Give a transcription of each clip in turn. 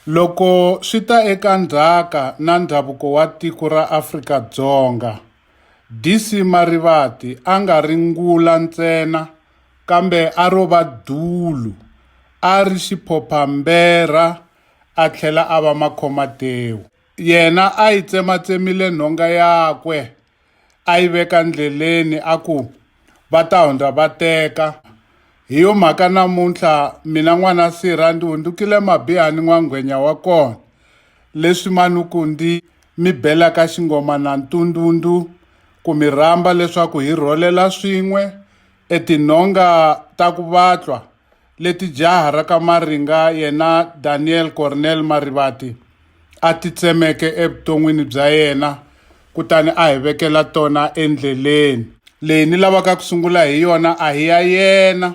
Loko swi ta eka ndzhaka na ndhavuko wa tiko ra Afrika-Dzonga, DC Marivate a nga ri ngula ntsena kambe a ro va dulu, a ri xiphopha-mberha a tlhela a va makhomatewu. Yena a yi tsematsemile nhonga yakwe a yi veka ndleleni a ku va ta hundza va teka hi yo mhaka namuntlha mina n'wana sirha ndzi hundzukile mabihani n'wangwenya wa kona leswi manuku ndzi mi belaka xingoma na ntundundzu ku mi rhamba leswaku hi rholela swin'we etinhonga ta ku vatlwa leti jaha ra ka Maringa yena Daniel Cornel Marivate a ti tsemeke evuton'wini bya yena kutani a hi vekela tona endleleni. Leyi ni lavaka ku sungula hi yona a hi ya yena,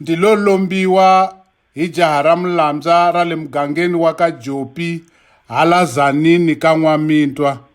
ndi lo lombiwa hi jaha ra Mulambya ra le mugangeni wa ka Jopi hala Zanini ka N'wamintwa.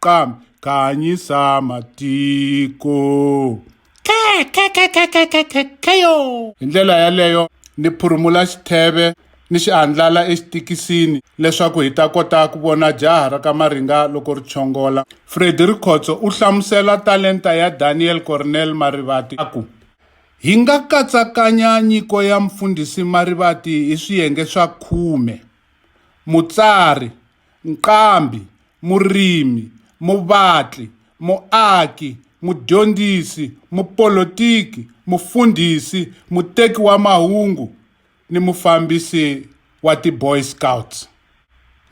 Qam, khanyisa matiko. Khe, khe, khe, khe, khe, khe, khe, kheyo. Hi ndlela yaleyo, ni phurumula xitheve ni xi andlala exitikisini leswaku hi ta kota ku vona jaha ra ka Maringa loko ri chongola. Freddy Rikhotso u hlamusela talenta ya Daniel Cornel Marivate a ku, Hi nga katsakanya nyiko ya Mfundhisi Marivate hi swiyenge swa khume, Mutsari, nqambi, murimi, muvatli, muaki, mudyondzisi, mupolotiki, mufundhisi, muteki wa mahungu ni mufambisi wa ti Boy Scouts.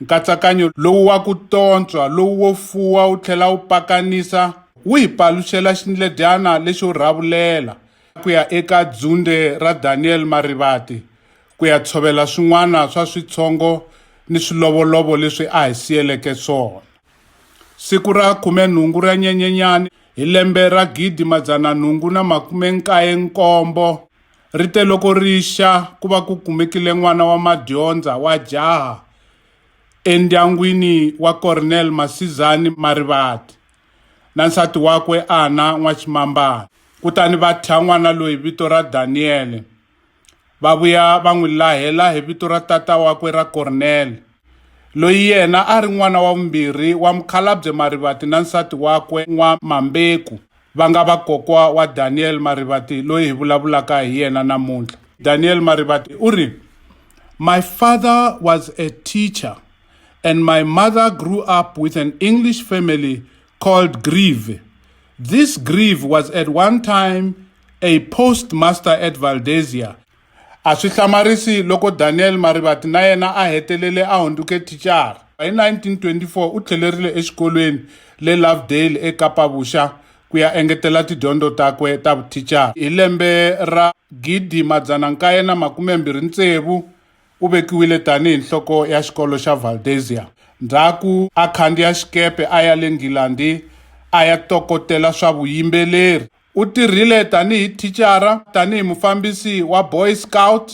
Nkatsakanyo lowu wa ku tontswa, lowu wo fuwa wu tlhela wu pakanisa wu hi paluxela xindledyana lexo rhavulela ku ya eka dzunde ra Daniel Marivate ku ya tshovela swin'wana swa switshongo ni swilovolovo leswi a hi siyeleke swona. Siku ra khume-nhungu ra Nyenyenyani hi lembe ra gidi madzana nhungu na makume nkaye nkombo, ri te loko ri xa ku va ku kumekile n'wana wa madyondza wa jaha endyangwini wa Cornel Masizani Marivate na nsati wakwe Ana N'wachimambana, kutani va thya n'wana loyi vito ra Daniyele. Va vuya va n'wi lahela hi vito ra tata wakwe ra Kornele, loyi yena a ri n'wana wa vumbirhi wa Mukhalabye Marivate na nsati wakwe N'wamambeku, va nga vakokwa wa Daniel Marivate loyi hi vulavulaka hi yena namuntlha. Daniel Marivate u ri, My father was a teacher and my mother grew up with an English family called Grieve. This Grieve was at one time a postmaster at Valdesia. A swi hlamarisi loko Daniel Marivati na yena a hetelele a hundzuke thicara. Hi 1924 u tlhelerile exikolweni le Lovedale eKapa-Vuxa ku ya engetela tidyondzo takwe ta vuthicara. Hi lembe ra 1926 U vekiwile tanihi nhloko ya xikolo xa Valdesia. Ndzhaku a khandziya xikepe a ya le Nghilandi a ya tokotela swa vuyimbeleri. U tirhile tanihi thicara, tanihi mufambisi wa Boy Scout,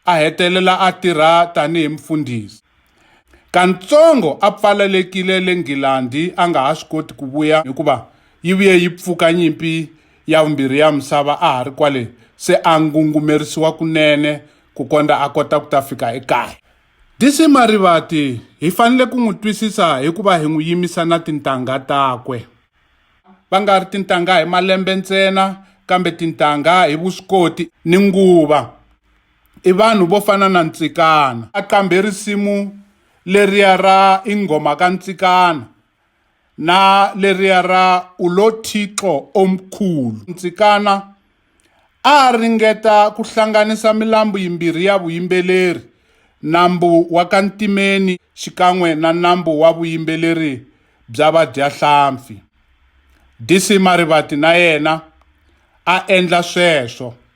a hetelela a tirha tanihi mufundhisi. Kantsongo a pfalelekile le Nghilandi a nga ha swi koti ku vuya hikuva yi vuye yi pfuka nyimpi ya vumbirhi ya misava a ha ri kwale, se a ngungumerisiwa kunene ku kondza a kota ku ta fika ekaya. DC Marivate hi fanele ku n'wi twisisa hi ku va hi n'wi yimisa na tintangha takwe. Va nga ri tintangha hi malembe ntsena kambe tintangha hi vuswikoti ni nguva. I vanhu vo fana na Ntsikana. A qambhe risimu leriya ra I nghoma ka Ntsikana. na leriya ra Ulo Thixo Omkhulu. Ntsikana a a ringeta ku hlanganisa milambu yimbirhi ya vuyimbeleri, nambu wa ka ntimeni xikan'we na nambu wa vuyimbeleri bya vadyahlampfi. DC Marivate na yena a endla sweswo.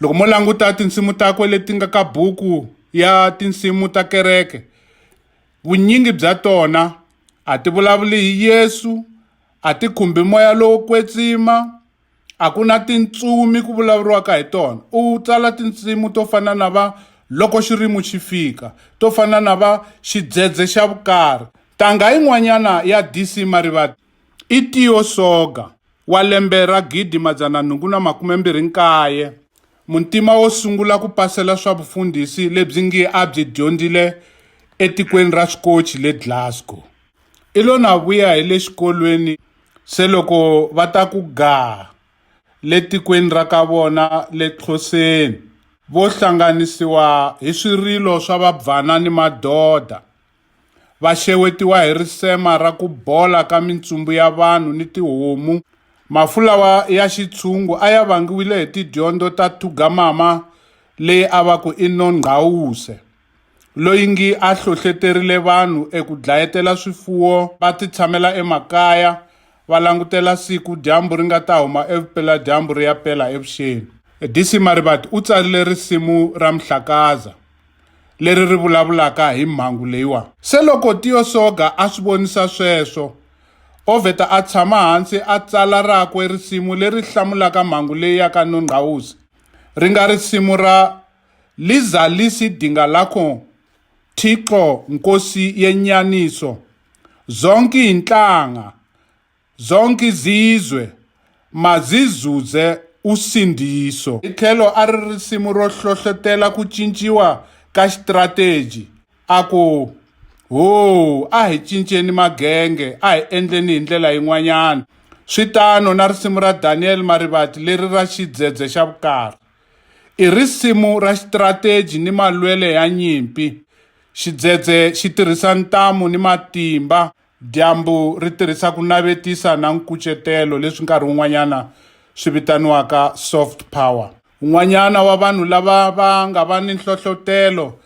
Loko mo languta tinsimu takwe leti nga ka buku ya tinsimu ta kereke, vunyingi bya tona a ti vulavuli hi Yesu, a ti khumbi moya lowo kwetsima, a ku na tintsumi ku vulavuriwaka hi tona. U tsala tinsimu to fana na va loko xirimu xi fika, to fana na va xidzedze xa vukarhi. Ntangha yin'wanyana ya DC Marivate I Tio Soga wa lembe ra 1829 muntima wo sungula ku pasela swa vufundhisi lebyi ngi a byi dyondzile etikweni ra Swikochi le Glasgow. I lo na vuya hi le xikolweni se loko va ta ku gaa le tikweni ra ka vona le Xhoseni vo hlanganisiwa hi swirilo swa vabvana ni madoda. Va xewetiwa hi risema ra ku bola ka mintsumbu ya vanhu ni tihomu. Mafu lawa ya xitshungu a ya vangiwile hi tidyondo ta Thugamama leyi a va ku i Nongqawuse, loyi ngi a hlohleterile vanhu eku dlayetela swifuwo va titshamela emakaya va langutela siku dyambu ri nga ta huma evupela-dyambu ri ya pela evuxeni. DC Marivate u tsarile risimu ra Mhlakaza. leri ri vulavulaka hi mhangu leyiwa. Se loko Tio Soga a swi vonisa sweswo, o vheta a tshama hansi a tsala rakwe risimu leri hlamulaka mhangu leyi ya ka Nongqawuse, ri nga risimu ra Lizalisi Dinga Lakho Thixo Nkosi Yenyaniso, Zonke Inhlanga, Zonke izizwe mazizuze usindiso. Hi tlhelo a ri risimu ro hlohlotela ku cinciwa ka xitirateji. A ku, Ho, a hi cinceni magenge, a hi endleni hi ndlela yin'wanyana. Swi tano na risimu ra Daniel Marivate leri ra Xidzedze xa Vukarhi. I risimu ra xitirateji ni malwele ya nyimpi. Xidzedze xi tirhisa ntamu ni matimba. Dyambu ri tirhisa ku navetisa na nkucetelo leswi nkarhi wun'wanyana swi vitaniwaka soft power. Un'wanyana wa vanhu lava va nga va ni nhlohlotelo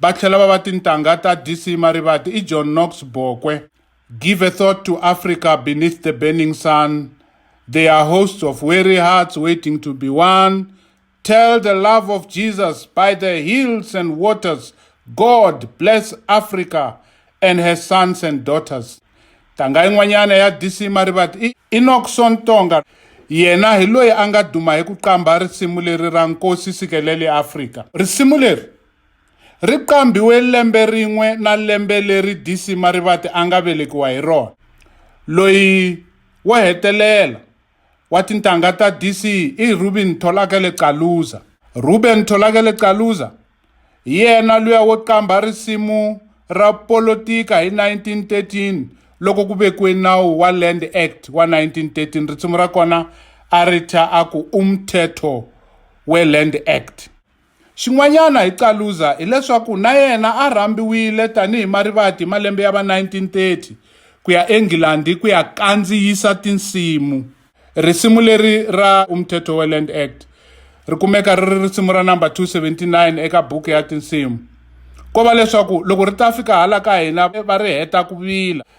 va tlhela va va tintangha ta DC Marivate i John Knox Bokwe. Give a Thought to Africa Beneath the Burning Sun, They Are Hosts of Weary Hearts Waiting to Be Won, Tell the love of Jesus by the hills and waters. God bless Africa and her sons and daughters. Tanga yin'wanyana ya DC Marivate i Enockson Tonga. Yena hi loyi a nga duma hi ku qambha risimu leri ra Nkosi Sikelele Africa. Risimu leri ri qambhiwe lembe rin'we na lembe leri DC Marivate a nga velekiwa hi rona. Loyi wo hetelela wa tintangha ta DC i Ruben Tholakele Caluza. Ruben Tholakele Caluza hi yena luya wo qambha risimu ra polotika hi 1913 loko ku vekiwe nawu wa Land Act wa 1913 risimu ra kona a ri thya a ku umthetho we-Land Act. Xin'wanyana hi Caluza hi leswaku na yena a rhambiwile tanihi marivati hi malembe ya va 1930 ku ya eNghilandhi ku ya kandziyisa tinsimu. Risimu leri ra Umthetho weLand Act ri kumeka ri ri risimu ra namba 279 eka buku ya tinsimu. Ko va leswaku loko ri ta fika hala ka hina va ri heta ku vila.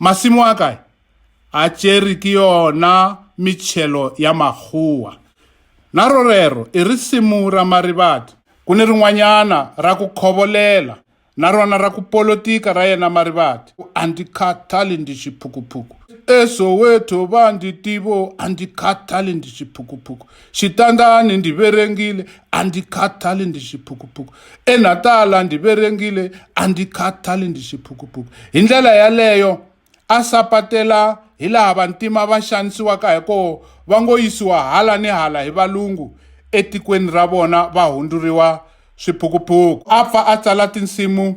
Masimo a kae a tšere ke yona mitšhelo ya makgowa. Na rorero i risimu ra Marivate. Ku ni rin'wanyana ra ku khovolela na rona ra ku polotika ra yena Marivate. A ndi khathali ndi xiphukuphuku. ESoweto va ndi tivo a ndi khathali ndi xiphukuphuku. xitandani ndzi verengile a ndzi khathali ndzi xiphukuphuku enatala ndzi verengile a ndzi khathali ndzi xiphukuphuku hi ndlela yaleyo a sapatela hi laha vantima va xanisiwaka hi koho va ngo yisiwa hala ni hala hi valungu etikweni ra vona va hundzuriwa swiphukuphuku a pfa a tsala tinsimu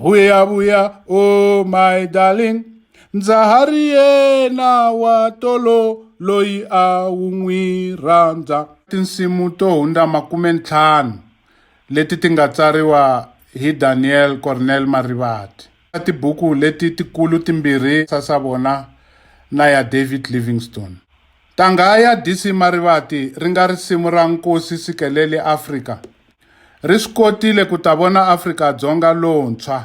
vuya vuya o oh my darling ndza ha ri yena wa tolo loyi a wu n'wi rhandza tinsimu to hundza makume ntlhanu leti ti nga tsariwa hi daniel cornel marivati tibuku leti tikulu timbirhi sasa vona na ya david livingstone ntangha ya dc marivati ri nga risimu ra nkosi sikeleli afrika ri swi kotile ku ta vona Afrika-Dzonga lontshwa.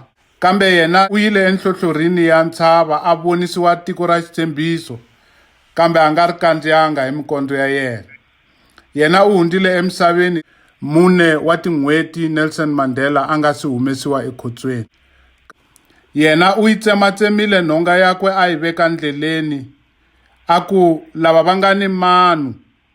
Kambe yena u yile enhlohlorhini ya ntshava a vonisiwa tiko ra xitshembiso, kambe a nga ri kandziyanga hi mikondzo ya yena. Yena u hundzile emisaveni mune wa tin'hweti Nelson Mandela a nga si humesiwa ekhotsweni. Yena u yi tsematsemile nhonga yakwe a yi veka ndleleni, a ku, Lava va nga ni manu!